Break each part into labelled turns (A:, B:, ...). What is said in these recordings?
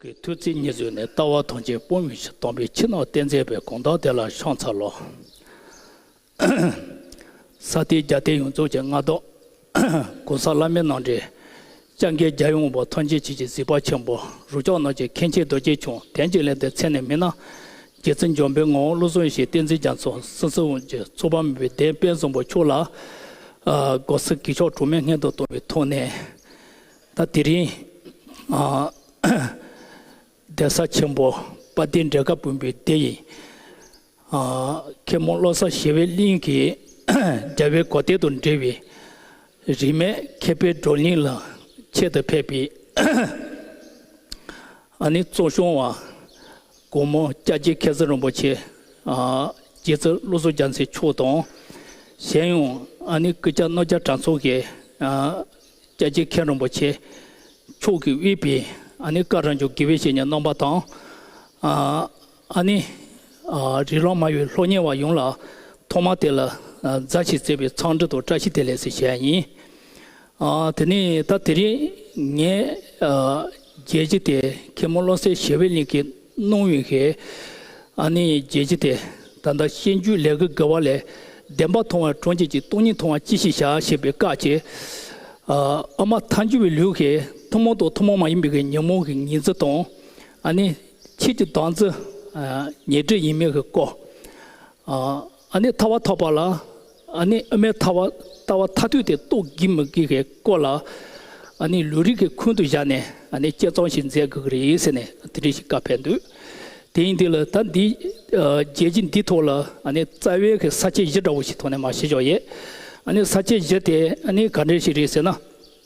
A: གི་ཐུགས་རྩེ་གཉིས་བཟོད་ནས་ལྟ་བ་དོན་ཆེན་སྤོང་བའི་ཕྱིར་སྟོང་པའི་ཕྱི་ནང་བསྟན་མཛད་པའི་དགོངས་དག་དེ་ལ་ཤོང་ཚར་ལོ། ས་སྟེ་རྒྱ་སྟེ་ཡོངས་རྫོགས་ཀྱི་མངའ་བདག། གོང་ས་བླ་མའི་ནང་འདྲེན། ལྕགས་མཁས་རྒྱལ་ཡོངས་འབོར་ཐོན་འཇལ་བྱེད་ཀྱི་གཟིགས་པ་ཆེན་པོ་རུ་ཅོག་ནག་ཅིག་མཁན་ཆེན་རྡོ་རྗེ་ཁྱུང་དན་གྱིས་ལེན་པའི་མཚན་ནས་མི་སྣ་རྗེ་བཙུན་འཇོམས་པའི་ངོ་བོ་བློ་བཟང་ཞེས་བསྟན་འཛིན་རྒྱ་མཚོ་སྲིད་གསུམ་གྱི་ཚོགས་པ་མི་བོའི་གདན་དཔལ་བཟང་པོ་མཆོག་ལ་སྒོ་ཟིག་གི་ཆོ་གྲུ་མའི་སྔས་མདོག་གཏོར་བའི་ཐོག་ནས་ད་དེ་རིང་གདན་ས་ཆེན་པོ་དཔའ་སྡེ་འབྲས་དགའ་བུན་པོའི་སྡེ་ཡི་མཁན་མོ་བློ་བཟང་ཞི་བའི་གླིང་གི་རྒྱལ་བའི་གོ་སྟེགས་དང་འབྲེལ་བའི་རིས་མེད་མཁས་པའི་བགྲོ་གླེང་ལ་ཆེད་དུ་ཕེབས་པའི། ཨ་ནི་གཙོ་སྐྱོང་བ་སྒོ་མོ་སྐྱ་རྒྱལ་མཁས་བཙུན་རིན་པོ་ཆེ། རྗེ་བཙུན་བློ་གཟུགས་རྒྱ་མཚོའི་མཆོག་དང། གཞན་ཡང་ཨ་ནི་སྐུ་སྐྱ་རྣོ་རྒྱ་གྲྭ་ཚོགས་ཀྱི་སྐྱ་རྒྱལ་མཁན་རིན་པོ་ཆེ་མཆོག་གིས་དབུས་པའི་ཨ་ནི་བཀའ་བསྒྲགས་འཇུག་དགེ་བའི་བཤེས་གཉེན་རྣམ་པ་དང། ཨ་ནི། རི་ཀློང་དམའ་བའི་ལྷོ་ཉལ་བ་ཡོངས་ལ་ཐོག་མར་དེ་ལ་རྫ་ཞེས་བརྩེ་བའི་མཚང་འབྲུ་དང་བཀྲ་ཤིས་བདེ་ལེགས་ཞེས་བྱ་ཡ་ཡིན། དེ་ནས་ད་དེ་རིང་ངས་རྒྱལ་སྤྱི་དེ་གེ་མོ་བློ་གསལ་ཞི་བའི་གླིང་གི་སྣང་བའི་ཧེ། ཨ་ནི་རྒྱལ་སྤྱི་དེ་ད་ལྟ་ཤེས་རྒྱུད་ལས་གུ་གེ་བ་ལས་བདེན་པ་མཐོང་བའི་གྲོང་ཁྱེར་གྱི་སྟོང་ཉིད་མཐོང་བ་ཅི་ཞིག་བྱ་ཞེས་པའི་སྐད་ཀྱིས། ཨ་མ་མཐའ་འཇུ་བའི་ལུས་ཀྱིས་ཐུན་མོང་དང་ཐུན་མོང་མ་ཡིན་པའི་ཉོན་མོངས་ཀྱི་ཉི་འཛི་དང། ཨ་ནི། ཕྱིས་ཀྱི་དོན་ཚེ་ཉེ་འབྲེལ་ཡིན་མིན་གྱི་སྐོར། ཨ་ནེ་ཐར་བ་ཐོབ་པ་ལ་ཨ་ནེ་ཨ་མའི་ཐར་བ་ལྟ་བ་ཐ་དུས་དེ་རྟོགས་དགོས་མི་དགོས་ཀྱི་སྐོར་ལ། ཨ་ནེ་ལུས་རིགས་ཀྱི་ཁུང་དུ་བཞག་ནས་ཨ་ནེ་སྐྱེ་ཚོང་ཞིག་མཛད་དགོས་ཀྱི་རེད་ཟེར་ནས་དེ་འདྲས་ཤིག་བཀའ་ཕེབས་འདུག་དེ་ཡིན་དུས་ལ་ད་འདི་རྒྱལ་སྤྱི་འདིའི་ཐོག་ལ་ཨ་ནེ་རྩ་བའི་གི་ས་བཅད་བཞི་འདྲ་བོ་ཞིག་ཐོག་ནས་མ་བཤད་ཆོག་ཡེ། ཨ་ནེ་ས་བཅད་བཞི་དེ་ཨ་ནེ་ག་འདྲས་ཤིག་རེད་ཟེར་ན།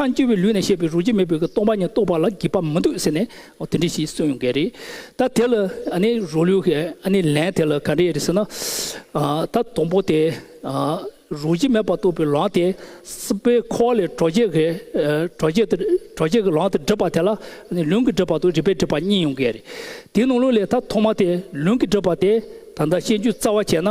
A: མཐའ་འཁྱོལ་བའི་ལུས་ནས་བཤད་པའི་རོ་བརྒྱ་མེད་པའི་སྟོང་པ་ཉིད་རྟོགས་པ་ལ་བགྱིད་པ་མི་འདུག་ཟེར་ནས་དེ་འདྲི་ཞིག་གསུངས་ཡོང་གི་རེད། ད་དེ་ལ་ནི་རོ་ལུས་ཀྱི་ནི་ལན་དེ་ལ་ག་འདྲ་ཡོད་རེད་ཟེར་ན། ད་དང་པོ་དེ་རོ་བརྒྱ་མེད་པར་རྟོགས་པའི་ལམ་དེ་སྲིད་པའི་འཁོར་བ་ལས་གྲོགས་བརྒྱད་ཀྱི་གྲོགས་བརྒྱད་དེ་གྲོགས་བརྒྱད་ཀྱི་ལམ་དེ་བསྒྲིབས་པ་དེ་ལ་ནི་ལུས་ཀྱི་བསྒྲིབས་པ་དང་རིག་པའི་བསྒྲིབས་པ་གཉིས་ཡོང་གི་རེད། དེའི་ནང་ལུགས་ལས་ད་ཐོག་མ་དེ་ལུས་ཀྱི་བསྒྲིབས་པ་དེ་ད་ལྟ་ཤེས་རྒྱུ་རྩ་བ་བྱས་ན།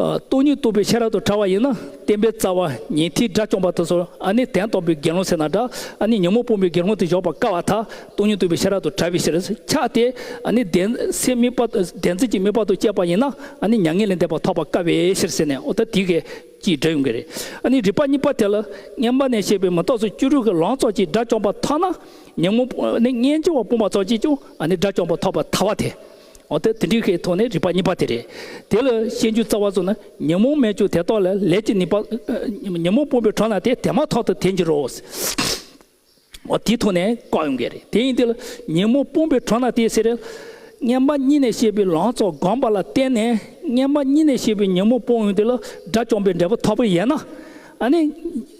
A: སྟོང་ཉིད་རྟོགས་པའི་ཤེས་རབ་ཏུ་ཕྲ་བ་ཡིན་ན་བསྟན་པའི་རྩ་བ་ཉི་ཐིག་སྒྲ་བཅོམ་པ་དང་སོར་ཨ་ནི་དན་སྟོང་པའི་དགེ་སློང་ཚེ་ན་སྒྲ་ཨ་ནི་ཉོན་མོངས་སྤོང་པའི་དགེ་སློང་དུ་གཞོག་པར་དཀའ་བ་དག་སྟོང་ཉིད་རྟོགས་པའི་ཤེས་རབ་ཏུ་ཕྲ་བའི་ཕྱིར་ཕྱག་སྟེ་ཨ་ནི་བདེན་ཚིག་དམིགས་པ་བདེན་ཚིག་གི་དམིགས་པ་དང་བཅས་པ་ཡིན་ན་ཨ་ནི་མྱ་ངན་ལས་འདས་པ་ཐོབ་པར་དཀའ་བའི་ཕྱིར་ཟེར་ནས་ཨོ་ད་དི་ཀའི་ཀྱི་སྒྲ་ཡོང་གི་རེད་ཨ་ནི་རིགས་པ་གཉིས་པ་དེ་ལ་བསྙེན་པ་ནས་བཤད་པའི་མི་རྟོག་ཚོགས་བཅུ་དྲུག་གི་ལང་ཚོགས་ཀྱིས་སྒྲ་བཅོམ་པ་ཐོབ་ན་ཉོན་མོངས་པ་ནི་སྙན་བརྗེ་བ་སྤོང་བ་ཚོགས་ཀྱིས་ཀྱང་ཨ་ནི་སྒྲ་བཅོམ་པ་ཐོབ་པར་ཐལ་བ་དེ། འོ་དེ་དེ་འདྲའི་ཤའི་ཐོག་ནས་རིག་པ་གཉིས་པ་དེ་རེད། དེ་ལ་ཤེས་འཇུག་རྩ་བ་སོགས་ནི་ཉོན་མོངས་མེད་ཀྱང་དེ་རྟོགས་ལ་ལས་ཀྱི་ནུས་པ། ཉོན་མོངས་སྤོང་པའི་གྲོགས་ན་དེ་དེ་མ་ཐག་ཏུ་དེ་འགྱུར་རོ། འོ་དེའི་ཐོག་ནས་བཀག་ཡོང་གི་རེད་དེ་ཡིན་དེ་ལ་ཉོན་མོངས་སྤོང་པའི་གྲོགས་ན་དེ་ཟེར། སྔན་མ་གཉིས་ནས་བཤད་པའི་ལང་ཚོ་སྒོམ་པ་ལ་བརྟེན་ནས་སྔན་མ་གཉིས་ནས་བཤད་པའི་ཉོན་མོངས་སྤོང་ཡོང་དེ་ལ་དགྲ་བཅོམ་པའི་འབྲས་བུ་ཐོབ་པ་ཡིན་ན།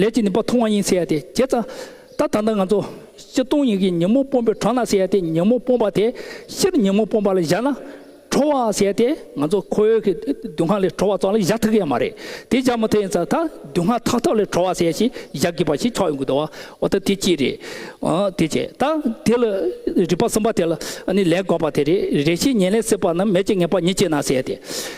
A: ལས་ཀྱི་ནུས་པ་མཐོང་བ་ཡིན་ཟེར་ཡ་དེ་བྱས་ཙང། ད་ད་ལྟ་ང་ཚོ་སྤྱི་སྟོང་ཡིག་གི་ཉིན་མོ་སྤོམ་པའི་གྲོང་ན་ཟེར་ཡ་དེ་ཉིན་མོ་སྤོམ་པ་དེ་ཕྱིར་ཉིན་མོ་སྤོམ་པ་ལ་བཞག་ན་ཁྲོ་བ་ཟེར་དེ་ང་ཚོ་ཁོ་བོའི་གི་དུད་ཁང་ལས་ཁྲོ་བ་ཙང་ལ་བཞག་ཐུག་གི་ཡ་མ་རེད་དེ་བཞག་མ་ཐུག་ཡིན་ཙང་ད་དུད་ཁང་ཐག་ཐག་ལས་ཁྲོ་བ་ཟེར་ཞིག་བཞག་དགོས་པ་ཞིག་ཆགས་ཡོང་གི་འདུག་བ་འོ་ད་དེ་ཅི་རེད། དེ་བྱས་ད་དེ་ལ་རིག་པ་གསུམ་པ་དེ་ལ་ནི་ལས་དགོས་པ་དེ་རེད་རེ་ཤིག་ཉེན་ལས་སྲིད་པ་ནི་མེད་ཅེས་ངེས་པ་ཉིད་ཅེ་ན་ཟེར་དེ།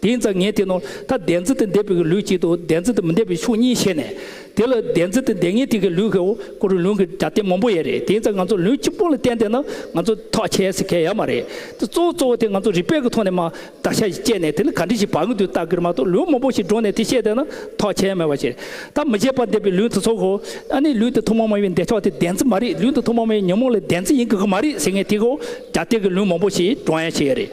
A: དེ་ཡིན་ཙང་ངས་དེ་ནོར་ད་བདེན་རྫུན་དེ་འདེབས་པའི་གི་ལུས་གཅིག་ཏུ་བདེན་རྫུན་དེ་མི་འདེབས་པའི་ཕྱོགས་གཉིས་བཤད་ནས། དེ་ལ་བདེན་རྫུན་དེ་འདེབས་ངེས་དེ་གི་ལུས་ཀྱི་འོ་སྐོལ་བའི་ལུང་གི་སྒྲ་དེ་མང་པོ་ཡོད་རེད་དེ་ཡིན་ཙང་ང་ཚོ་ལུས་གཅིག་པོ་ལ་བརྟེན་དེ་ན་ང་ཚོ་ཐག་ཆད་ཟེར་མཁན་ཡོད་མ་རེད་དེ་གཙོ་བོ་གཙོ་བོ་དེ་ང་ཚོ་རིག་པའི་གི་ཐོག་ནས་མ་བརྡར་ཤ་ཞིག་བཅད་ནས་དེ་ནི་ག་འདྲི་ཞིག་བག་ངེས་དུས་རྟགས་གིར་མ་གཏོགས་ལུང་མང་པོ་ཞིག་སྒྲོག་ནས་དེ་བཤད་དེ་ན་ཐག་ཆད་མེད་པ་ཞིག་རེད་ད་མི་བརྗེད་པར་འདེབས་པའི་ལུས་དེ་ཚོ་གོ་ཨ་ནི་ལུས་དེ་ཐོག་མ་མ་ཡིན་པའི་འདེབས་ཕྱོགས་དེ་བདེན་རྫུན་མ་རེད་ལུས་དེ་ཐོག་མ་མ་ཡིན་ཉོན་མོངས་ལས་བདེན་རྫུན་ཡིན་གི་གི་མ་རེད་ཟེར་ངེས་དེ་གི་འོ་སྒྲ་དེ་གི་ལུང་མང་པོ་ཞིག་སྒྲོག་ཡ་ཞིག་ཡོད་རེད།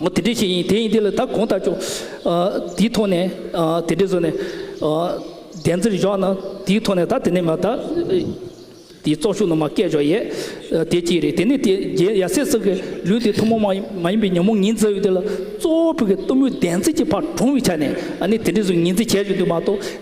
A: ངོ་དེ་འདྲས་ཤིག་ཡིན་དེ་ཡིན་དེ་ལ་ད་གོང་ལྟར་ཆོག། དེའི་ཐོག་ནས་དེ་འདྲས་བཟོས་ནས་བདེན་རྩིར་བཞག་ན་དེའི་ཐོག་ནས་ད་དེ་ནས་མ་ད། དེའི་ཙོག་ཤུགས་རྣམས་མ་སྐད་ཆོག་ཡས། དེ་གཅིག་རེད་དེ་ནས་དེ་རྒྱལ་ཡ་སེ་སོགས་ཀྱི་ལུས་དེ་ཐུན་མོང་མ་མ་ཡིན་པའི་ཉོན་མོངས་ངན་འཛག་ཡུལ་དེ་ལ་གཙོ་བོ་བོད་ཀྱི་གཏུམ་མོའི་བདེན་རྩིས་ཀྱི་བར་དྲུང་བའི་ཆ་ནས་ནི་དེ་འདྲས་བཟོས་ངན་རྩིས་བྱས་ཡོད་དུས་མ་གཏོགས།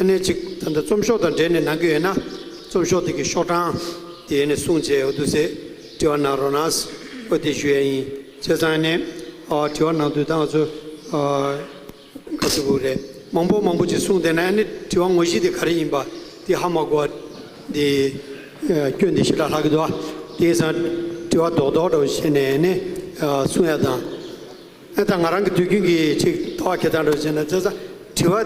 B: ཨ་ནེ་ཅིག་ད་ལྟ་རྩོམ་ཤོག་དང་འབྲེལ་ནས་གནང་གི་ཡོད་ན་རྩོམ་ཤོག་དེ་གི་ཤོག་གྲངས་དེ་ཡེ་ནས་གསུངས་རྗེས་འོ་དུ་ཟེ་དྲི་བ་གནང་རོགས་གནང། ཨོ་དེ་ཞུ་ཡ་ཡིན་བྱས་ཙང་ཨ་ནེ། དྲི་བ་གནང་དུས་ད་ང་ཚོ་དགའ་ཚོད་བུ་རེད་མང་པོ་མང་པོ་ཅིག་གསུངས་དེ་ནས་ཨ་ནེ་དྲི་བ་ངོ་བཞི་དེ་ག་རེ་ཡིན་པ་དེ་ཧ་མ་གོ་བ་དེ་སྐྱོན་དེ་ཞེ་དྲག་ལྷག་གི་འདུག་ཨ་དེ་ཡིན་ཙང་དྲི་བ་རྡོག་རྡོག་འདྲ་བོ་བྱས་ནས་ཨ་ནེ་གསུངས་ཡ་དང། ཨེ་ད་ང་རང་གི་དུས་རྒྱུན་གྱི་ཅིག་ལྟ་བ་ཁྱེད་དང་འགྲོགས་བྱས་ན་བཙལ་ས་དྲི་བ་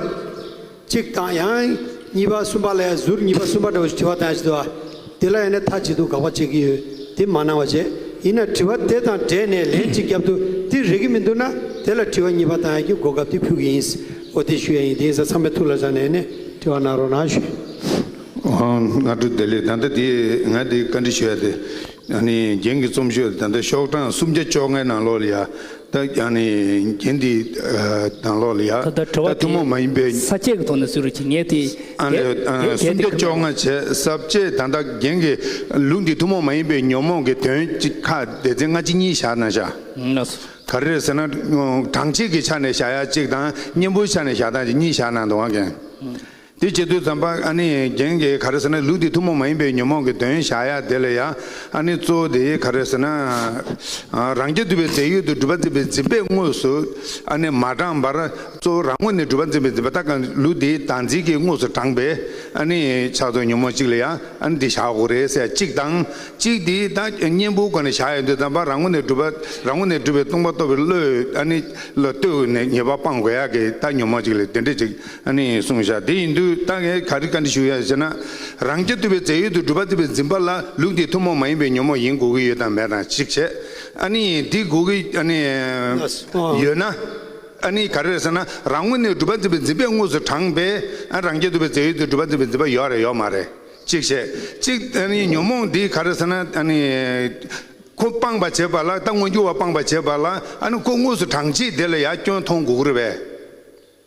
B: གཅིག་དང་ཡང་གཉིས་པ་གསུམ་པ་ལས་ཟུར་གཉིས་པ་གསུམ་པ་འདྲ་བོ་ཞིག་དྲི་བ་དང་ཡང་ཞིག་ལྟ་བ་དེ་ལ་ཡང་ནས་ཐ་ཅིག་ཏུ་དགག་པ་བྱེད་ཀྱི་ཡོད་དེ་མ་གནང་བ་བྱས་ཡིན་ན་དྲི་བ་དེ་དང་སྦྲེལ་ནས་ལན་གཅིག་རྒྱབ་ཏུ་དེ་རེག་གི་མི་འདུག་ན་དེ་ལ་དྲི་བ་གཉིས་པ་དང་ཡང་གི་གོ་སྐབས་དེ་ཕུལ་གྱི་ཡིན་འོ་དེ་ཞུ་ཡ་ཡིན་དེ་ཡིན་ས་ཚང་མས་ཐུགས་ལ་བཞག་ནས་ནས་དྲི་བ་གནང་རོགས་གནང་ཞུ། ཨོ་
C: ང་དྲུག་བདེ་ལེགས་ད་ལྟ་དེ་ང་དེ་བཀའ་འདྲི་ཞུ་ཡ་དེ། ཡང་ནི་རྒྱན་གྱི་རྩོམ་ཤོས་ལ་ད་ལྟ་ཤོག་གྲངས་སུམ་བརྒྱ་བཅོ་ལྔའི་ནང་ལོགས་ལ་ཡ། ད་ཡང་ནི་རྒྱན་དེའི་ནང་ལོགས་ལ་ཡ། ད་ལྟ་དྲི་བ་དེ་ས་བཅད་ཀྱི་ཐོག་ནས་སུ་རུ་ཆེ་
A: ངེས་དེ། ཨ་འདྲེ།
C: སུམ་བརྒྱ་བཅོ་ལྔ་བྱས་ས་བཅད་ད་ལྟ་རྒྱན་གྱི་ལུགས་འདི་ཐུན་མོང་མ་ཡིན་པའི་ཉོན་མོངས་ཀྱི་དོན་གཅིག་ཁ་བདེ་ཚན་ལྔ་ཅི་གཉིས་བཞག་ན་བཞག། ག་རེ་ཟེར་ན་གྲངས་གཅིག་གི་ཆ་ནས་བཞག་ཡ་གཅིག་དང་གཉེན་པོའི་ཆ་ནས་བཞག་དང་གཉིས་བཞག་ན་འདོང་བ་འགན། དེ་བྱེད་དུས་ཙམ་པ་ཨ་ནི་རྒྱན་གྱིས་ག་རེ་ཟེར་ན་ལུགས་འདི་ཐུན་མོང་མ་ཡིན་པའི་ཉོན་མོངས་ཀྱི་དོན་བཞག་ཡ་དེ་ལ་ཡ་ཨ་ནི་གཙོ་བོ་དེ་ག་རེ་ཟེར་ན། རང་རྐྱ་འདུལ་བའི་རྫས་ཡོད་དུ་སྒྲུབ་པ་འཛིན་པའི་འཛིན་པས་དངོས་སུ་ཨ་ནི་མ་དྲངས་པར་གཙོ་བོ་རང་ངོ་ནས་སྒྲུབ་པ་འཛིན་པའི་འཛིན་པ་ལྟ་གང་ལུགས་འདིའི་བདག་འཛིན་གྱིས་དངོས་སུ་དྲངས་པས་ཨ་ནི་ཕྱག་རྫོགས་ཉོན་མོངས་གཅིག་ལ་ཡ་ཨ་ནི་འདི་བཞག་གོ་རེ་ཟེར་གཅིག་དང་གཅིག་དེའི་བདག་གཉེན་པོའི་སྒོ་ནས་བཞག་ཡ་དུས་ཙམ་པ་རང་ངོ་ནས་སྒྲུབ་པ་རང་ངོ་ནས་སྒྲུབ་པའི་ལྟུང་བ་གཏོར་བའི་བློས་ཨ་ནི་བློས་ལྟོས་ནས་ཉེས་པ་སྤང་དགོས་ཡ་གི་བདག་ཉོན་མོངས་གཅིག་ལ་དེ་འདྲ་གཅིག་ནི་གསུངས་བཞག་དེ་ཡིན་དུས་རྟ་རྒན་ག་རི་ག་འདི་ཞུ་ཡ་ཟེར་ན། རང་སྐྱ་བཏུལ་བའི་རྫས་ཡོད་དུ་སྒྲུབ་པ་བརྩི་བའི་འཛིན་པ་ལ་ལུགས་འདིས་ཐུན་མོང་མ་ཡིན་པའི་ཉོན་མོངས་ཡིན་དགོས་ཀྱི་ཡོད་དམ་མེད་དང་གཅིག་བྱས། ཨ་ནི་འདི་དགོས་ཀྱི་ཨ་ནི། ཡོད་ན། ཨ་ནི་ག་རེ་རེད་ཟེར་ན་རང་ངོས་ནས་སྒྲུབ་པ་བརྩི་བའི་འཛིན་པས་དངོས་སུ་དྲངས་པས་ཨ་རང་སྐྱ་བཏུལ་བའི་རྫས་ཡོད་དུ་སྒྲུབ་པ་བརྩི་བའི་འཛིན་པ་ཡོད་རེད་ཡོད་མ་རེད་གཅིག་བྱས། གཅིག་ཨ་ནི་ཉོན་མོངས་འདི་ག་རེ་ཟེར་ན་ཨ་ནི། ཁོ་སྤངས་པར་བྱེད་པ་ལ་རྟ་མངོན་གྱུར་བ་སྤངས་པར་བྱེད་པ་ལ་ཨ་ནི་ཁོ་དངོས་སུ་དྲངས་རྗེས་དེ་ལ་ཡར་སྐྱོན་མཐོང་དགོས་ཀྱི་རེད་པས།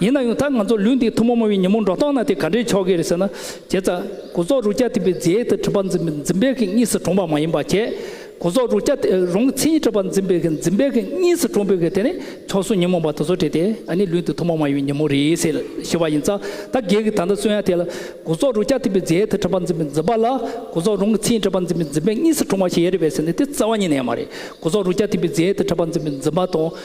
A: ཡིན་ན་ཡང་ད་ང་ཚོ་ལུས་འདི་ཐུན་མོང་མ་བའི་ཉིན་མོ་འགྲོ་སྟངས་ན་དེ་ག་འདྲའི་ཆོ་གས་རེད་ཟེར་ན། བྱས་ཙང། སྒོ་ཟོག་རུ་སྐྱ་དེ་པའི་རྫས་དེ་ཁྲི་པ་འཛིན་པའི་གིས་གཉིས་སུ་གྲོངས་པ་མ་ཡིན་པ་བྱས། སྒོ་ཟོག་རུ་སྐྱ་དེ་རང་གི་མཚན་ཉིད་ཁྲི་པ་འཛིན་པའི་གིས་འཛིན་པའི་གིས་གཉིས་སུ་གྲོངས་པའི་གིས་དེ་ནི་ཆོ་གསུང་ཉིན་མོ་བ་དེ་ཚོ་བྲིས་ཏེ་ཨ་ནི་ལུས་འདི་ཐུན་མོང་མ་བའི་ཉིན་མོ་རེད་ཟེར་ཞེས་པ་ཡིན་ཙང་ད་སྒེར་གྱི་ད་ལྟ་གསོན་ཡ་དེ་ལ། སྒོ་ཟོག་རུ་སྐྱ་དེ་པའི་རྫས་དེ་ཁྲི་པ་འཛིན་པའི་འཛིན་པ་ལ་སྒོ་ཟོག་རང་གི་མཚན་ཉིད་ཁྲི་པ་འཛིན་པའི་འཛིན་པའི་གཉིས་སུ་གྲོངས་པ་ཞེས་ཡ་རེད་པས་ཟེར་ནས་དེ་རྩ་བ་ཉིད་ནས་མ་རེད་སྒོ་ཟོག་རུ་སྐྱ་དེ་པའི་རྫས་དེ་ཁྲི་པ་འཛིན་པའི་འཛིན་པ་དང།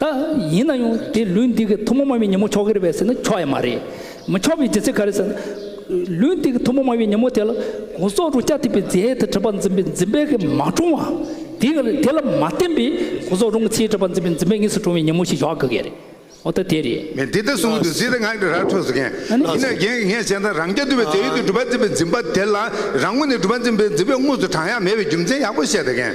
A: ད་ཡིན་ན་ཡང་དེ་ལུས་འདི་གི་ཐུན་མོང་མ་བའི་ཉིན་མོ་ཆོག་གི་རེད་པས་ཟེར་ན་ཆོག་ཡ་མ་རེད། མི་ཆོག་པའི་རྒྱུ་མཚན་ག་རེད་ཟེར་ན། ལུས་འདི་གི་ཐུན་མོང་མ་བའི་ཉིན་མོ་དེ་ལ་གོང་སོག་རུ་སྐྱ་ཐིག་པའི་རྫས་དེ་གྲུབ་པ་འཛིན་པའི་འཛིན་པའི་གི་མ་བཀྲོངས་བ། དེ་གི་དེ་ལ་མ་བརྟེན་པའི་གོང་སོག་རུང་གི་ཚེའི་གྲུབ་པ་འཛིན་པའི་འཛིན་པའི་གཉིས་སུ་བཀྲོངས་བའི་ཉིན་མོ་ཞིག་ཞོག་གི་གི་རེད། འོ་ད་དེ་རེད། ངས་འདི་ལྟར་གསུངས་འདུག་ཟེར་
C: ཏེ་ངག་གི་རྭར་འཕྲོ་ཟེར་མཁན། ཡིན་ནའི་རྒན་གྱིས་ངས་བཤད་མཐར་རང་སྐྱ་ཐིག་པའི་རྫས་ཡོད་དུས་གྲུབ་པ་འཛིན་པའི་འཛིན་པ་དེ་ལ་རང་ངོ་ནས་གྲུབ་པ་འཛིན་པའི་འཛིན་པའི་དངོས་སུ་བགྲང་ཡ་མེད་པའི་རྒྱུ་མཚན་ཡག་པོ་བཤད་ཟེར་མཁན།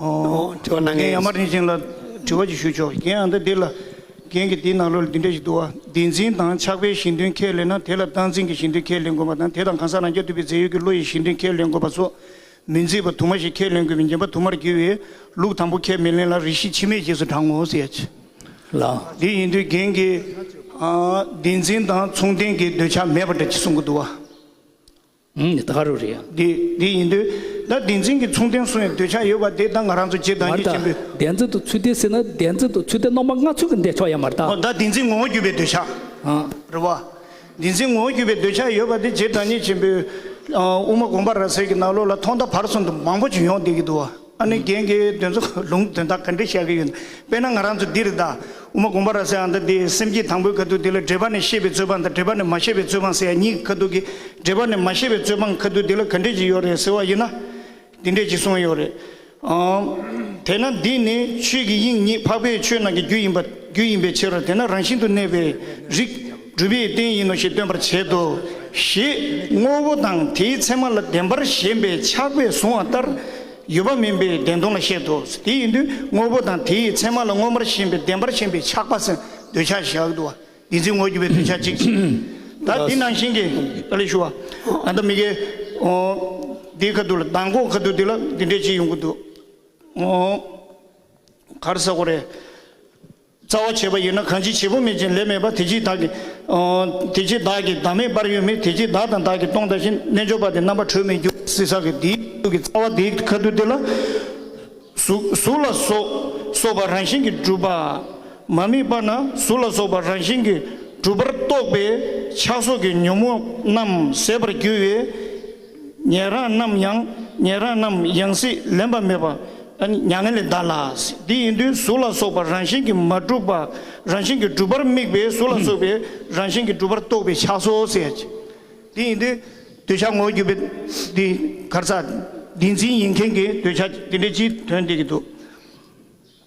D: དྲི་བ་
B: གནང་མཁན་ཡང་མ་དྲན་ཞིང་ལ་
D: དྲི་བ་ཅིག་ཞུ་ཆོག་གན་ཡང་འདི་འདི་ལ། གན་གྱི་འདིའི་ནང་ལོ་ལ་འདི་འདྲ་ཞིག་འདུག་ཨ། འདི་འཛིན་དང་ཆགས་པའི་ཞེན་འདུན་ཁས་ལེན་ན་དེ་ལ་སྟངས་འཛིན་གྱི་ཞེན་འདུན་ཁས་ལེན་དགོས་པ་དང་དེ་དང་གང་ཟག་རང་རྐྱ་ཐུབ་པའི་རྫས་ཡོད་ཀྱི་བློ་ཡི་ཞེན་འདུན་ཁས་ལེན་དགོས་པ་སོགས་མི་མཛེས་པ་དུ་མ་ཞིག་ཁས་ལེན་དགོས་པའི་ཉན་པ་དུ་མར་གྱུར་བས་ལུགས་དང་པོ་ཁས་མི་ལེན་ལ་རིགས་ཤེས་ཕྱི་མས་རྗེས་སུ་འབྲང་ངོ། ལ།
A: དེ་ཡིན་དུས་གན་
D: གྱིས། འདི་འཛིན་དང་མཚུངས་ལྡན་གྱི་འདོད་ཆགས་མེད་པ་འདྲ་ཅིག་གསུང་གི་འདུག་ཨ། ད་ག་རུ་
A: རེད། འདི་འདི་ཡིན་དུས།
D: ད་བདེན་འཛིན་གྱི་མཚུངས་ལྡན་སུ་ཡང་འདོད་ཆགས་ཡོད་པ་དེ་ད་ང་རང་ཚོ་རྗེས་འབྲང་རྒྱུ་ཆེན་པོའི། བདེན་འཛིན་དུ་
A: ཚུལ་ལྡན་
D: ཟེར་ན་
A: བདེན་འཛིན་དུ་ཚུལ་ལྡན་རྣམ་པ་ལྔ་ཚུལ་གྱི་འདས་ཆོག་ཡ་མ་རྟ། འོ་ད་བདེན་འཛིན་ངོ་བོ་བརྒྱུད་པའི་འདོད་
D: ཆགས། རེད་བ། བདེན་འཛིན་ངོ་བོ་བརྒྱུད་པའི་འདོད་ཆགས་ཡོད་པ་དེ་རྗེས་འབྲང་རྒྱུ་ཆེན་པོའི། དབུ་མ་དགོངས་པ་ར་བཟེར་གྱི་ནག་ལོ་ལ་ཐོག་མཐའ་བར་གསུམ་དུ་མང་པོ་བྱུང་ཡོང་བསྡད་ཀྱི་འདུག་བ། ཨ་ནུ་རྒྱན་གྱིས་དོན་ཚོ་ལུང་དོན་དག་ག་འདྲས་བཤད་གི་ཡོད་དཔེ་ན་ང་རང་ཚོ་འདིར་དྭོ་མ་དགོངས་པ་ར་ཟེར་ཨ་མདའ་འདི་སེམས་སྐྱིད་དང་པོའི་ཁ་ཐུག་འདི་ལ་འགྲེལ་པ་ནས་ཤེས་པའི་རྩོད་སྤང་དང་འགྲེལ་པ་ནས་མ་ཤེས་པའི་རྩོད་སྤང་ཟེར་ཡ་གཉིས་ཀྱི་ཁ་ཐུག་གི་འགྲེལ་པ་ནས་མ་ཤེས་པའི་རྩོད་སྤང་ཁ་ཐུག་འདི་ལ་ག་འདྲས་ཅིག་ཡོད་རེད་ཟེར་བ་ཡིན་ན། འདི་འདྲས་ཅིག་གསུངས་ཡོད་རེད་ཨང། དེས་ན་འདི་ནི་ཆོས་ཀྱི་དབྱིངས་ཉིད་འཕགས་པའི་ཆོས་རྣམས་ཀྱི་རྒྱུ་ཡིན་པ་རྒྱུ་ཡིན་པའི་ཕྱིར་རོ་དེས་ན་རང་བཞིན་དུ་གནས་པའི་རིགས། སྒྲུབ་པའི་རྟེན་ཡིན་ནོ་ཞེས་སྟོན་པར་བྱེད་དོ། ཞེས་དངོས་པོ་དང་དེའི་མཚན་མ་ལ་བདེན་པར་ཞེན་པའི་ཆགས་པས་བཟུང་བ་ལྟར་ཡོད་པ་མིན་པའི་བདེན་སྟོང་ལ་བཤད་དོ། དེ་ཡིན་དུས་དངོས་པོ་དང་དེའི་མཚན་མ་ལ་མངོན་པར་ཞེན་པའི་བདེན་པར་ཞེན་པའི་ཆགས་པ་སེམས་འདོད་ཆགས་བཞག་ཏུ་བ་འདི་འཛིན་ངོར་གྱུར་པའི་འདོད་ཆགས་གཅིག་ཅིང། ད་འདི་ནང་བཞིན་གྱི། ཨ་ལས་ཞུ་བ། ད་ལྟ་མི་དགེ། འོ། འདིའི་ཁ་ཐུག་ལ་མདང་དགོང་ཁ་ཐུག་འདི་ལ་འདི་འདྲའི་གཅིག་ཡོང་གི་འདུག། འོ། གར་ས་གོ་རེ། རྩ་བ་བྱེད་པ་ཡིན་ན་གང་ཅི་བྱེད་པོ་མེད་ཅིང་ལས་མེད་པ་དེ་ཅིས་བདག་གི། དེ་ཅིས་བདག་གི་བདག་མེད་དཔར་ཡོད་མེད་དེ་ཅིས་བདག་དང་བདག་གི་སྟོང་ལྟ་བཞིན་རྣལ་འབྱོར་པ་དེ་རྣམ་པར་གྲོལ་མེད་འགྱུར་བ་སྲིད་ས་གི་དེའི་ཁ་ཐུག་གི་རྩ་བ་དེའི་ཁ་ཐུག་དེ་ལ། གཟུགས་ལ་སོགས་པ་རང་བཞིན་གྱིས་གྲུབ་པ། མ་དམིགས་པ་ན་གཟུགས་ལ་སོགས་པ་རང་བཞིན་གྱིས་གྲུབ་པར་རྟོགས་པའི་ཆགས་སོགས་ཀྱི་ཉོན་མོངས་རྣམས་ཟད་པར་འགྱུར་བས། ཉན་རང་རྣམས་ཡང་ཉན་རང་རྣམས་ཡང་སྲིད་ལེན་པ་མེད་པ་མྱ་ངན་ལས་འདའ་ལ། འདི་ཡིན་དུས་གཟུགས་ལ་སོགས་པ་རང་བཞིན་གྱིས་མ་གྲུབ་པ་རང་བཞིན་གྱིས་གྲུབ་པར་དམིགས་པའི་གཟུགས་ལ་སོགས་པའི་རང་བཞིན་གྱིས་གྲུབ་པར་རྟོག་པའི་ཆགས་སོ་ཟེར། འདི་ཡིན་དུས་འདོད་ཆགས་ངོར་གྱུར་པའི་འདི་གར་ས་འདི་འཛིན་ཡིན་མཁན་གྱི་འདོད་ཆགས་འདི་འདྲའི་སྤྱིའི་དོན་འདི་ཀྱི་འདུག།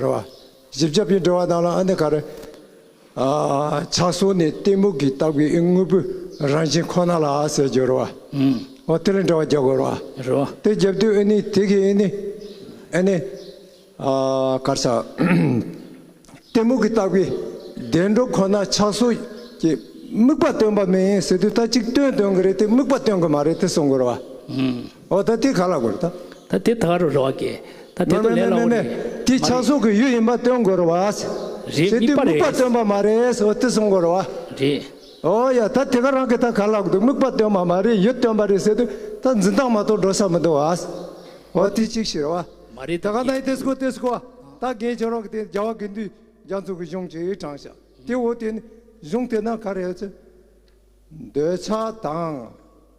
E: རེད། བཞི་བརྒྱ་པའི་འགྲོ་བ་དང་ལ་ཨ་འདི་ག་རེ། ཕྱག་སོར་ནི་གཏི་མུག་གི་བཏགས་པའི་དངོས་པོའི་རང་བཞིན་ཁོ་ན་ལ་ཟེར་རྒྱུ་རེད། འོ་དེ་ལས་འགྲོ་བ་བརྒྱ་དགོས་རེད། དེ་བརྒྱབ་
A: དུས་ཨེ་ནི་
E: དེ་གིས་ཨེ་ནི། ཨེ་ནི། གར་ཆག། གཏི་མུག་གི་བཏགས་པའི་བདེ་འགྲོ་ཁོ་ན་ཕྱག་སོར་གྱི་དམིགས་པ་སྟོན་པ་མིན་ཟེར་དུས་ད་ཅིག་སྟོན་སྟོན་གི་རེད་དེ་དམིགས་པ་སྟོན་གི་མ་རེད་དེ་གསུང་གི་རེད། ཨོ་ད་དེ་ག་ལ་དགོས་ད། ད་དེ་ད་ག་རུ་རེ་བ་
A: དགེ། ད་དེ་ཏོ་ལེ་ལ་འོ་རེད། དེ་ཆགས་སོགས་ཀྱི་ཡུལ་
E: ཡིན་པ་སྟོན་དགོས་རེ་བ། རེད་དེ་དམིགས་པ་སྟོན་པ་མ་རེད་ཨོ་དེ་སོང་དགོས་རེ་བ། རེད།
A: ཨོ་ཡ་ད་
E: དེ་ག་རང་གི་ད་ག་ལ་དགོས་དམིགས་པ་སྟོན་པ་མ་རེད་ཡུལ་སྟོན་པ་རེད་ཟེར་དུས་ད་འཛིན་སྟངས་མ་གཏོགས་འགྲོ་ས་མི་འདུག་ཨ། ཨོ་དེ་གཅིག་ཤི་རེ་བ། མ་རེད་ད་ག་ནའི་དེ་
A: སྐོ་དེ་
E: སྐོ་ཨ་ད་རྒན་ཁྱོད་རང་གི་དེ་རྒྱ་བ་དགེ་འདུན་རྒྱ་མཚོ་གི་གཞུང་གཅིག་དྲངས་ཤག་དེ་འོ་དེ་ནི་གཞུང་དེ་ན་ག་རེ་ཡོད་ཚོད། འདོད་ཆགས་དང།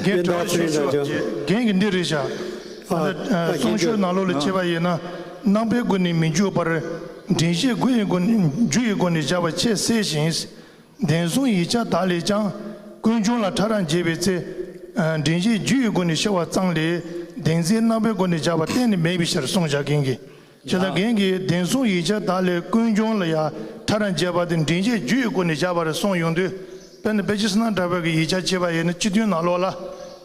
A: རྒན་གྲོ་བོ་ཆོས་ཞུ་བ་བརྒྱད་རྒན་གྱིས་འདི་རེ་བཞག་ང་ཚོ་གསུང་ཆོས་ནག་ལོ་ལས་མཆེད་པ་ཡིན་ན་ནང་པའི་སྒོ་ནས་མི་འཇུག་པར་འདྲེན་བཤད་དགུ་ཡི་སྒོ་ནས་རྒྱུ་ཡི་སྒོ་ནས་བཞག་པ་ཆེས་གསལ་ཞིང་བདེན་
D: གསུང་ཡིག་ཆ་དག་ལས་ཀྱང་ཀུན་འབྱུང་ལ་ཕྲ་རགས་འབྱེད་པའི་ཚེ་འདྲེན་བཤད་རྒྱུ་ཡི་སྒོ་ནས་ཤེས་བ་ཙམ་ལས་བདེན་ཚིག་ནང་པའི་སྒོ་ནས་བཞག་པ་གཏན་ནས་མེད་པའི་ཕྱིར་གསུང་བཞག་མཁན་གྱི་བྱེ་ད་རྒན་གྱིས་བདེན་གསུང་ཡིག་ཆ་དག་ལས་ཀུན་འབྱུང་ལ་ཡ་ཐ་ར་འཇལ་བ་དེ་མགྲིན་གཅིག་རྒྱུད་ཡི་སྒོ་ནས་བཞག་པ་རེད་གསུངས་ཡོང་དུས་དཔེར་ན་དཔེ་ཆའི་སྣ་འདྲ་བར་གྱི་ཡིག་ཆ་གཅིག་པ་ཡིན་ན་སྤྱི་མཐུན་ནང་ལོགས་ལ་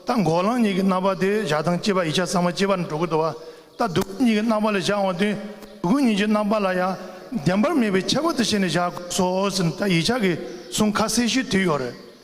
D: ད་འགོག་ལངས་གཉིས་ཀྱི་རྣམ་པ་དེ་བཞག་སྟངས་སྤྱི་པ་ཡིག་ཆ་ཚང་མ་སྤྱི་པར་འགྲོ་གི་འདུག་བ་ད་སྡུག་ཀུན་གཉིས་ཀྱི་རྣམ་པ་ལ་བཞག་འོང་དུས་སྡུག་ཀུན་གཉིས་ཀྱི་རྣམ་པ་ལ་ཡང་བདེན་པར་མེད་པའི་ཁྱད་པར་དུ་བྱས་ནས་བཞག་དགོས་སོ་ཟེར་ནས་ད་ཡིག་ཆ་གི་གསུང་ཁ་གསལ་ཞུས་དུས་ཡོད་རེད།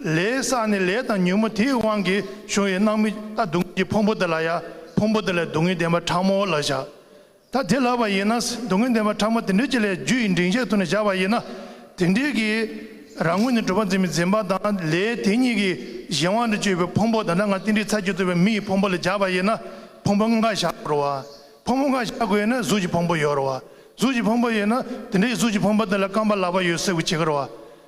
D: ལས་ས་ནི་ལས་དང་ཉུལ་མོ་དེའི་དབང་གིས་བྱུང་བའི་སྣང་མི་རྟག་སྡུག་བསྔལ་གྱི་ཕུང་པོ་འདི་ལ་ཡང་ཕུང་པོ་འདི་ལས་སྡུག་བསྔལ་བདེན་པ་ཕྲ་མོ་ལ་བཞག། ད་དེ་ལགས་པ་ཡིན་ན་སྡུག་བསྔལ་བདེན་པ་ཕྲ་མོ་དེ་
A: འདྲའི་ཅི་ལས་རྒྱུ་ཡི་འབྲིང་ཆའི་ཐུགས་ནས་བཞག་པ་ཡིན་ན། དེ་འདྲའི་གི་རང་ངོ་ནས་གྲུབ་པ་འཛིན་མི་འཛིན་པ་དང་ལས་དེ་གཉིས་ཀྱི་གཞན་དབང་དུ་སྤྱོད་པའི་ཕུང་པོ་ད་ལྟ་ང་ཏིལ་འབྲི་ཚར་གྱིས་བཙོས་པའི་མི་ཡི་ཕུང་པོ་ལ་བཞག་པ་ཡིན་ན་ཕུང་པོ་འགའ་བཞག་དགོས་རུང་བ། ཕུང་པོ་འགའ་བཞག་དགོས་ན་གཟུགས་ཀྱི་ཕུང་པོ་ཡོད་རུང་བ། གཟུགས་ཀྱི་ཕུང་པོ་ཡོད་ན་དེ་འདྲའི་གཟུགས་ཀྱི་ཕུང་པོ་དེ་ལ་རྐང་པ་ལག་པ་ཡོད་སྲིད་དགོས་ཇི་དགར་བ།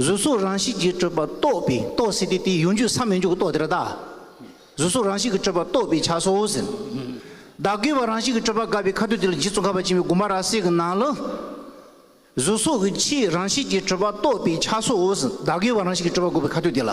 F: གཟུགས་གཟུགས་རང་བཞིན་གྱིས་སྤྲོས་པ་རྟོགས་པས་རྟོགས་ཟིན་ཏེ་དེའི་ཡུལ་འཇུག་སམ་མི་འཇུག་གི་རྟོགས་དེར་བདག། གཟུགས་གཟུགས་རང་བཞིན་གྱིས་སྤྲོས་པ་རྟོགས་པའི་ཆ་སོ་ཟེར། བདག་དགེ་བ་རང་བཞིན་གྱིས་སྤྲོས་པ་དགའ་བའི་ཁ་དོག་དེ་ལ་རྗེ་བཙུན་ཁ་བ་ཅན་བའི་དགོངས་པ་ར་སའི་གི་ནང་ལ། གཟུགས་གཟུགས་ཀྱི་ཕྱིའི་རང་བཞིན་གྱིས་སྤྲོས་པ་རྟོགས་པའི་ཆ་སོ་ཟེར་བདག་དགེ་བ་རང་བཞིན་གྱིས་སྤྲོས་པ་དགའ་བའི་ཁ་དོག་དེ་ལ།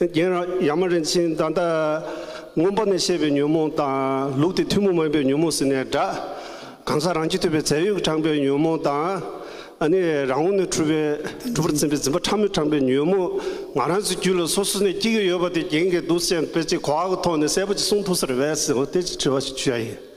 G: རྒན་རབས་ཡག་མ་རིན་ཆེན་ད་ལྟ་སྔོན་པོ་ནས་བཤད་པའི་ཉོན་མོངས་དང་ལུགས་དེ་ཐུན་མོང་མ་ཡིན་པའི་ཉོན་མོངས་ཟེར་ནས་སྒྲ་གང་ཟག་རང་རྒྱུད་ཐོས་པའི་རྫས་ཡོད་དྲངས་པའི་ཉོན་མོངས་དང། ཨ་ནི་རང་ངོ་ནས་འཁྲུལ་པའི་འཁྲུལ་པར་འཛིན་པའི་འཛིན་པ་ཕྲ་མོས་དྲངས་པའི་ཉོན་མོངས་ང་རང་ཚོའི་རྒྱུད་ལ་སོ་སོ་ནས་སྐྱེ་གི་ཡོད་པ་དེ་རྒྱན་གྱི་གདུགས་ཅན་དཔེ་ཆའི་གོ་བ་གི་ཐོག་ནས་གསལ་པོ་ཅིག་གསུང་ཐུབ་ས་རེད་བས་སོ་ལྟས་ཅིག་དྲི་བ་ཞིག་འཕྱུ་ཡ་ཡིན།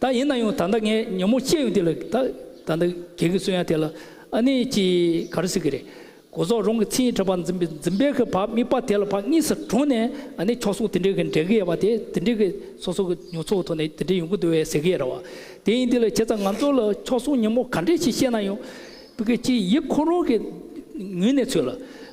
A: ད་ཡིན་ན་ཡང་ད་ལྟ་ངས་ཉོན་མོངས་སྐྱེས་ཡོང་དུས་ལ་ད་ད་ནི་གལ་གི་སུ་ཡང་དེ་ལ་ཨ་ནི་ཅི་ག་རེ་ཟེར་གི་རེད། གོ་ཟོག་རང་གི་མཚན་ཉིད་ཕྲ་བར་འཛིན་པའི་འཛིན་པའི་གི་བག་དམིགས་པ་དེ་ལ་བག་གཉིས་སུ་གྲོལ་ནས་ཨ་ནི་ཁྱོ་སོགས་དེ་འདྲའི་གི་འདྲེ་གི་ཡ་བ་དེ་དེ་འདྲའི་གི་སོ་སོ་གི་ཉོ་ཚོགས་ཐོག་ནས་དེ་འདྲའི་ཡོང་གི་འདུག་བས་ཟེར་གི་ཡ་ར་བ། དེ་ཡིན་དུས་ལ་བྱས་ཙང་ང་ཚོ་ལ་ཁྱོ་སོགས་ཉོན་མོངས་ག་འདྲས་ཅིག་བཤད་ན་ཡང། བུ་གི་ཅི་ཡིད་ཁོ་རང་གི་ངུས་ནས་ཚོད་ལ།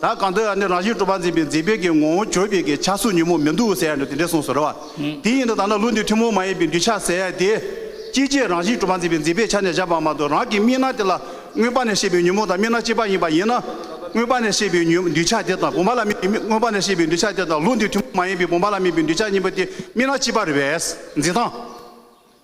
G: ད་གང་འདོད་ཡ་ནི་རང་བཞིན་གྲུབ་པ་འཛིན་པའི་འཛིན་དཔེ་གྱི་ངོ་བོ་བརྗོད་པའི་གི་ཆ་སུ་ཉོན་མོངས་མི་འདུག་ཟེར་ཡ་ནི་དེ་འདྲས་གསུངས་སོ་ར་བ། དེ་ཡིན་ན་ད་ནི་ལུགས་འདི་ཐུན་མོང་མ་ཡིན་པའི་འདུས་བྱ་ཟེར་ཡ་དེ། ཅི་སྤྱད་རང་བཞིན་གྲུབ་པ་འཛིན་པའི་འཛིན་པའི་ཆ་ནས་བཞག་པ་མ་གཏོགས་རང་གི་སྨིན་སྣང་དེ་ལ། མངོན་པ་ནས་ཤེས་པའི་ཉོན་མོངས་དང་སྨིན་སྣང་གཅིག་པ་ཡིན་པ་ཡིན་ན། མངོན་པ་ནས་ཤེས་པའི་ཉོན་འདུས་བྱ་དེ་དང་བུམ་པ་ལ་དམིགས་པའི་མངོན་པ་ནས་ཤེས་པའི་འདུས་བྱ་དེ་དང་ལུགས་འདི་ཐུན་མོང་མ་ཡིན་
H: པའི་བུམ་པ་ལ་དམིགས་པའི་འདུས་བྱ་གཉིས་པ་དེ་སྨིན་སྣང་གཅིག་པར་བས། འཛིན་སྟངས།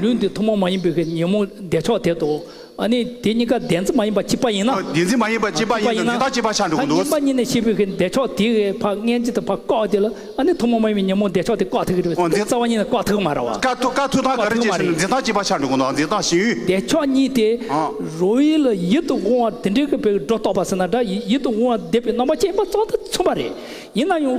A: ལུས་འདི་ཐུན་མོང་མ་ཡིན་པའི་གི་ཉོན་མོངས་བདེ་མཆོག་དེ་དང། ཨ་ནི་དེ་གཉིས་ཀ་བདེན་ཚིག་མ་ཡིན་པ་གཅིག་པ་ཡིན་ན། བདེན་ཚིག་མ་ཡིན་པ་གཅིག་
H: པ་ཡིན་ན་འདི་དག་གཅིག་པ་ཆགས་འགྲོ་གི་འདུག། བདེན་པ་གཉིས་ནས་ཤེས་པའི་གི་བདེ་
A: མཆོག་དེ་གི་བར་ངན་ཅིག་དང་བར་བཀག་དེ་ལ་ཨ་ནི་ཐུན་མོང་མ་ཡིན་པའི་ཉོན་མོངས་བདེ་མཆོག་དེ་བཀག་ཐུག་གི་རེད་པས་ཐུག་རྩ་བ་གཉིས་ནས་བཀག་ཐུག་གི་མ་རེད་བ། བཀག་ཐུག་བཀག་ཐུག་དང་ག་རེ་བྱེད་ཟེར་
H: ན་འདི་དག་གཅིག་པ་ཆགས་འགྲོ་གི་འདུག་འདི་དག་གཞན་ཡུལ། བདེ་མཆོག་གཉིས་དེ་
A: རོ་ཡི་ལ་ཡིད་དུ་འོང་བ་དེ་འདྲའི་གི་བའི་སྒྲོ་རྟོག་པ་ཟེར་ན་འདྲ་ཡིད་དུ་འོང་བ་བདེ་བའི་རྣམ་པ་ཅན་པ་ཙམ་དུ་མཚོན་པ་རེད། ཡིན་ན་ཡང།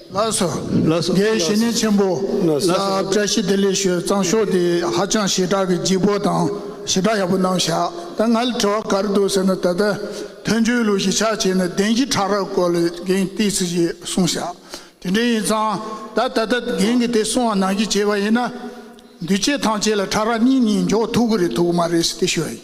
A: ལ་སོགས་
I: དགེ་བཤེས་གཉེན་ཆེན་པོ་ལ་བཀྲ་ཤིས་བདེ་ལེགས་ཞུ་གཙང་ཤོག་དེ་ཧ་ཅང་ཞེ་དྲག་གི་སྦྱིག་པོ་དང་ཞེ་དྲག་ཡག་པོ་གནང་བཞག་ད་ང་ལ་དྲི་བ་གར་འདུག་ཟེར་ན་ད་ལྟ་དོན་གཅོད་ལུགས་ཞིག་ཆགས་བྱས་ན་བདེན་བཞི་ཕྲག་རག་སྐོར་ལས་འགན་ཏིག་ཚིག་ཅིག་གསུང་བཞག་དེ་འདྲའི་ཡིན་ཙང་ད་ད་ལྟ་འགན་གི་དེ་གསུང་བ་ནང་གི་བྱས་པ་ཡིན་ན་འདུས་བྱས་ཐམས་ཅད་ལ་ཕྲག་རག་གཉིས་གཉིས་འཇོག་ཐུག་གི་རེད་ཐུག་གི་མ་རེད་ཟེར་ཏེ་ཞུ་བ་ཡིན།